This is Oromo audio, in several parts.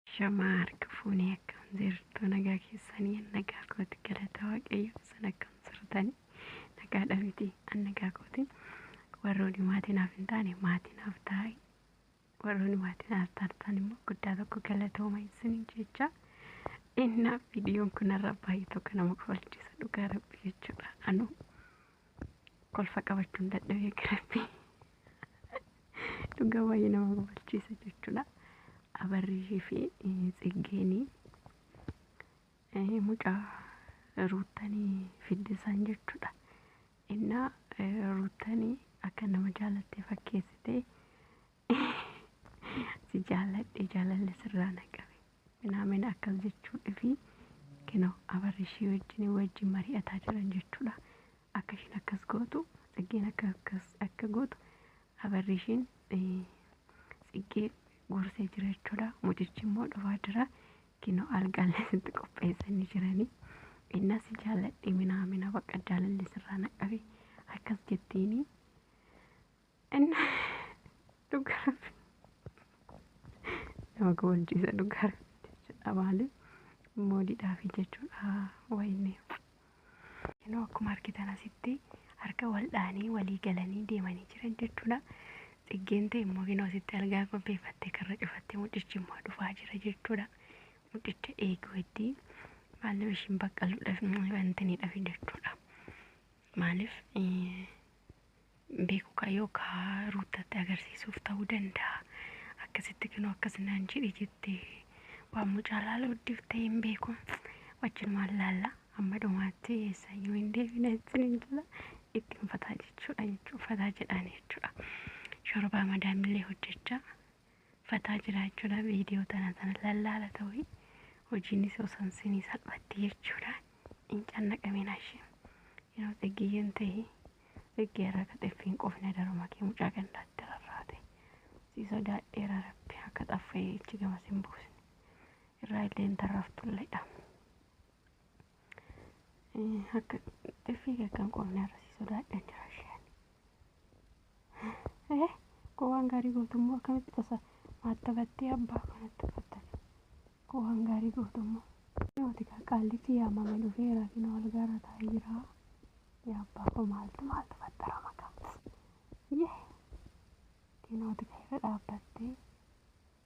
Ashamaa harka fuunee akkam jirtu nagaa keessanii an nagaa kooti galata waaqayyo isin akkam jirtani nagaadha miti an nagaa kooti warrooni maatii naaf hin taane maatii naaf taa'e warrooni maatii naaf taatan immoo guddaa tokko galatooma isiniin jecha innaa viidiyoon kunarra baay'ee tokko nama kofalchiisa dhugaa rabbi jechuudha anuu kolfa qabachuun dadhabee kirabbi dhugaa baay'ee nama kofalchiisa jechuudha abarrii fi tsiggeenii mucaa ruuttanii fiddisaan jechuudha innaa ruuttanii akka nama jaalattee fakkeessitee si jaaladhe jaalalli sirraa na qabe Minaamen akkas jechuudhfi kino Abarishii wajjini wajjin mari'ataa jiran jechuudha. Akka ishiin akkas gootu Tsiggeen akka akkas akka gootu Abarishiin Tsiggee gorsee jira jechuudha. Mucichi immoo dhufaa jira. Kino algaallee sitti qopheessanii jiranii. Innaa si jaalladhe minaamina baqa jaalalli sirraa naqabe akkas jettiini. Inni dhugaa rabbi nama goolchiisa dhugaa rabbi jechuudha maali moodiidhaa fi jechuudha wayinni. Yeroo akkuma argitan asitti harka wal dhaanii walii galanii deemanii jiran jechuudha. Xiggeen ta'e immoo yeroo asitti algaa qopheeffattee karra cufattee mucichi immoo dhufaa jira jechuudha. Mucicha eeguu itti maaliif ishiin baqqaluudhaaf wantiniidhaaf jechuudha. Maaliif beeku kaa yookaa ruuttatti agarsiisuuf ta'uu danda'a akkasitti kinoo akkas naan jedhe jette waan mucaa laala guddifte hin beeku wajjin waan laalla amma dhumaatti eessayyuu hin deebina ittiin hin jira itti hin fataa jechuudha jechuudha fataa jedhaan jechuudha shorobaa madaamillee hojjechaa fataa jiraachudha video tana tana lallaala ta'u hojiinis osoon sinii salphatti jechuudha hin cannaqamin ashim yeroo xiggiyyeen ta'e xiggee irra ka xiffiin qofne daruma kee mucaa gandaatti rarraate sii sodaadheera rabbi akka xaffa'ee ichi gamas hin buusne irraa illee hin tarraftulle dha Akka xiffii kee kan qofne irra si sodaadhan jira isheen. Eh, koo waan gaarii gootummoo akkamitti tasa maatta battee abbaa kanatti uffatta. Koo waan gaarii gootummoo. Yooti kaa qaallichi yaamame dhufeera kina wal gaara taa'ee jira. Yaa abbaa koo maaltu maaltu fattara maqaa. Yee. Kinooti kaa irra dhaabbattee.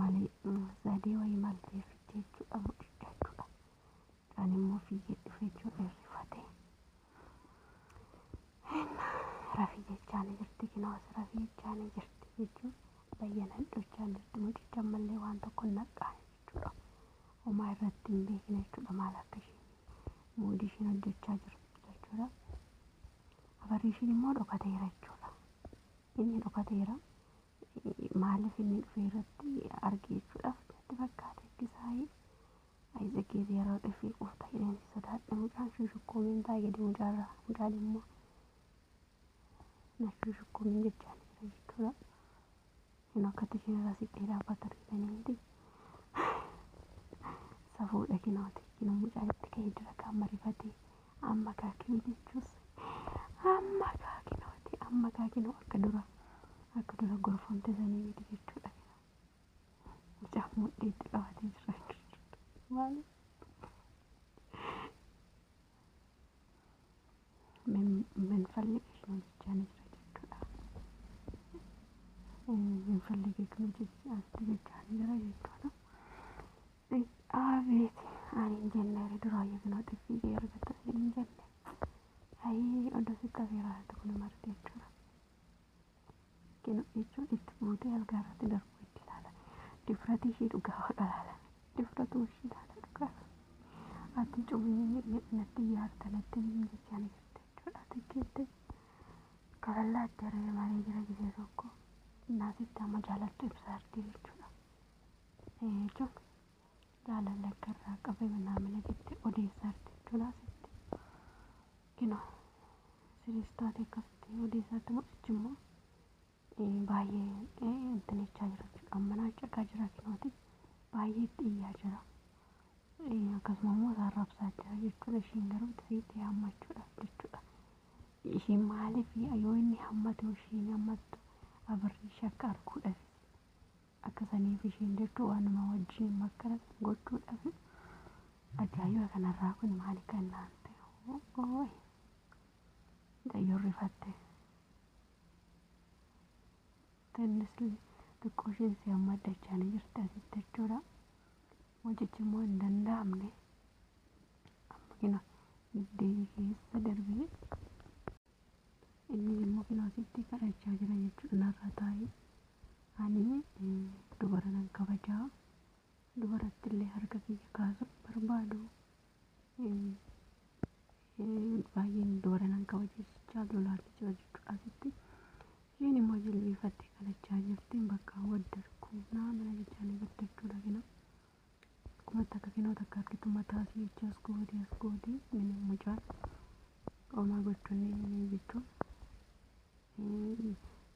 malee sadee wayii maal teeffitti jechuudha mucicha jechuudha. Kan immoo fiigee dhufe jechuudha irrifate. Rafi jechaan jirti kinoos rafi jechaan jirti jechuun bayyanan dhochaan jirti mucicha ammallee waan tokko naqaan jechuudha. Homaa irratti hin beekne jechuudha maal akka isheen moodii isheen hojjechaa jirtu jechuudha. Abarri isheen immoo dhokateera jechuudha. Inni dhokateera maaliif inni dhufee irratti arge jechuudhaaf natti fakkaate kisaayee Ayizakiif yeroo dhufee qofta jedheen si sodaadha mucaan shushukkuumiin taa'e gadi mucaarra mucaan immoo na shushukkuumiin jechaan jira jechuudha. Hin akkatti isheen irraa siqxee dhaabbata argitanii miti. Safuudha kinooti kinoo mucaan itti ka'ee dura kaan marifatee Amma kaa kini jechuus amma kaa kinooti amma kaa kinoo akka dura akka dura gorfamte sanii miti jechuudha kinoo mucaa mudhii itti qabatee jira jechuudha maali minfalli kinoo jechaa ni jira jechuudha minfalli kinoo jechaa jechaa ni jira jechuudha Abeeti ani hin jenne ree duraayyuu kunoo xiffii kee argatta siin hin jenne. Ayii odoo sitti afeeraa jirtu kun marti jechuudha. Kinu jechuun itti buutee algaa irratti darbuu itti ilaala. Difratii ishii dhugaa waqa ilaala. Difratuu ishii ilaala dhugaa. Ati cubiin natti ijaarta natti hin jechaa ni jirta jechuudha. Ati keetti kaballaatti aree malee jira gisee tokko. Naasitti amma jaalattu ibsaa jirti jechuudha. Eenyutu jaalala akka irraa qabe manaa mana jette odeessaa jirti jechuudha asitti. Kino siriis taate akkasitti odeessaa jirti moo achi immoo eh, baay'ee eh, intalechaa jira jechuudha. Manaa caqaa jira kinooti baay'ee itti iyyaa jira. Eh, Akkasuma immoo isaa rabsaa jira jechuudha. Ishiin garuu itti siitee hammachuudhaaf jechuudha. Ishiin maaliif yoo inni hammatu ishiin hammattu abirri ishee akka arguudhaaf Akka saniif ishiin jirtu waanuma wajjiin makkara san gochuu dhabe ajaa'iba kanarraa kun maali kan naan ta'e ooy mucayyoon rifatte tennis xiqqoo ishiin si amma addachaanii jirti asitti jechuudha mucichi immoo hin danda'amne amma kina giddeeyyi keessa darbee Inni immoo kilaasitti kadhachaa jira jechuudha. Narra taa'i. Ani dubara nan kabaja. Dubaratti illee harka kiyya kaasuu hin barbaadu. Baay'een dubara nan kabaja jechaa lolaalle jira jechuudha asitti. Isheen immoo jilbiifattee kadhachaa jirti. Bakka waddarku naa mana jechaa ni waddachuu lagina. Kuma takka kinoo takka argitu mataa si jecha as goodi as goodi mini mucaan omaa gochunni mini jechuun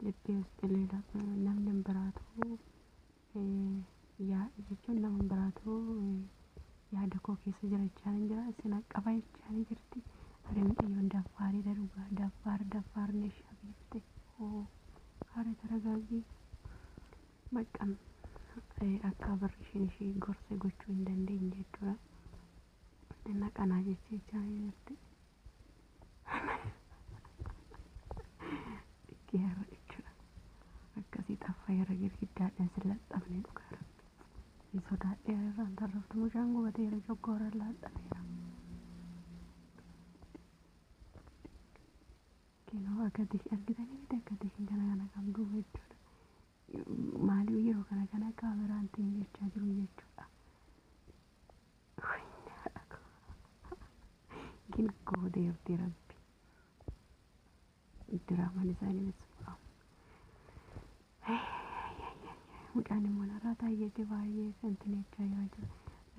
libbee as dheleela namni hin biraatu yaa jechuun nama hin biraatu yaada koo keessa jira jechaan hin jira isin qaba jechaan jirti ari mucayyoon daffaarii darugaa daffaar daffaar neeshaa biifte hoo haara taragaagii. Maccaan akkaa barri ishiin ishii gorse gochuu hin dandeenye jechuudha. Inna qanaa jechee jechaa jirti. Dhikkee har'a jechuudha. Akkasii xaffa irra girgiddaadhaan sin laxxafne dhugaa rabbi. Hin sodaadhee irraan tarraftu mucaan gubateera coggooraan laadhameera. Kinoo akati argitanii miti akkati kan kana kana qabduu jechuudha. Maaliif yeroo kana kana kaameraan tiin jechaa jiru jechuudha. Gina koo deebtee rabbi. Diraamaan isaanii bismillah. Mucaan immoo narraa taayyeeti baay'ee santi jechaa jira jira.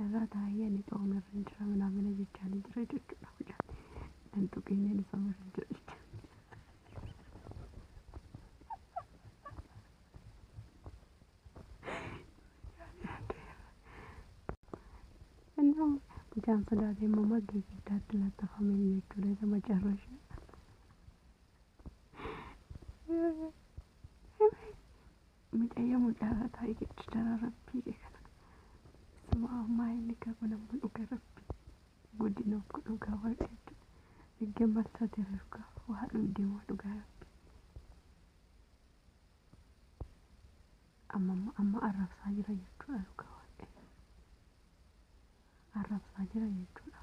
Narraa taayee ani xooma irra hin jira minaa mina jechaa ni jira jechuudha mucaan. Nan tuqiinee ni sooma irra hin jira jechuudha. Mucaan sodaatee immoo maggee giddaatti laxxafame jechuudha isa macarrashaa. Mucayyo mucaarra taa'ee jechu jara rabbii kee kana. Suma ammaa inni qabu nama dhuga rabbii. Guddina of godhu dhugaa waaqa jechuudha. Eegee maal taatee dhugaa waa dhundeemaa dhugaa rabbii. Amma amma amma arrabsaa jira jechuudha dhugaa waaqa. Arrabsaa jira jechuudha.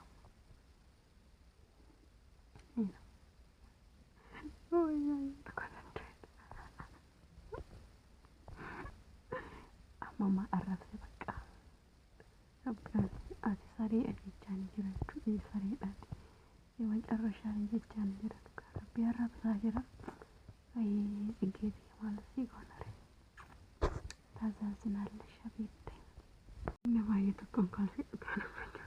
Mama arrabse bakka. Ati saree ajechaan jira jechuudha. Sareedhaan. Yewan carrashaan jechaan jira. Rabbi arrabsaa jira. Ayii dhiggeeti maal si goonare. Taasaasinaalle shabiitte. Nama ayya tokkoon kaasee dhugaa nama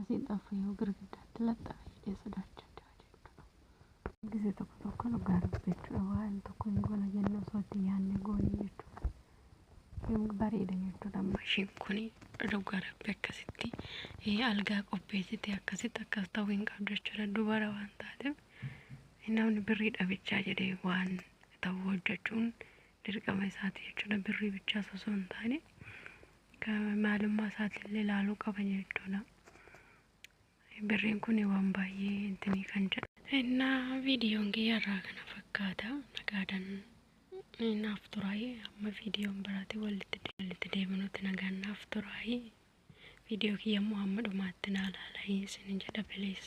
Asiin xaafuu yoo girgiddaatti laxxafe jedhee sodaachaa jira jechuudha. Gisee tokko tokko dhugaa dubbachuudha waan tokko hin goona jennu osoo itti yaadne goone jechuudha. Hin bareeda jechuudha amma isheen kun dhugaa rabbi akkasitti eh, algaa qopheessite akkasitti akkas ta'uu hin qabdu jechuudha dubara waan taateef eh, namni birrii dhabichaa jedhee waan ta'u hojjechuun dirqama isaati jechuudha birrii bichaas osoo hin taane maalummaa isaatillee ilaaluu qaba jechuudha. Birriin kun waan baay'ee intinii kan jedhu. Innaa viidiyoon kiyya irraa kana fakkaata. Nagaadan naaf turaayi. Amma viidiyoon biraati walitti de- walitti deebinutti nagaan naaf turaayi. Viidiyoo kiyya immoo hamma dhumaatti naa laalayi isin jedha bilees.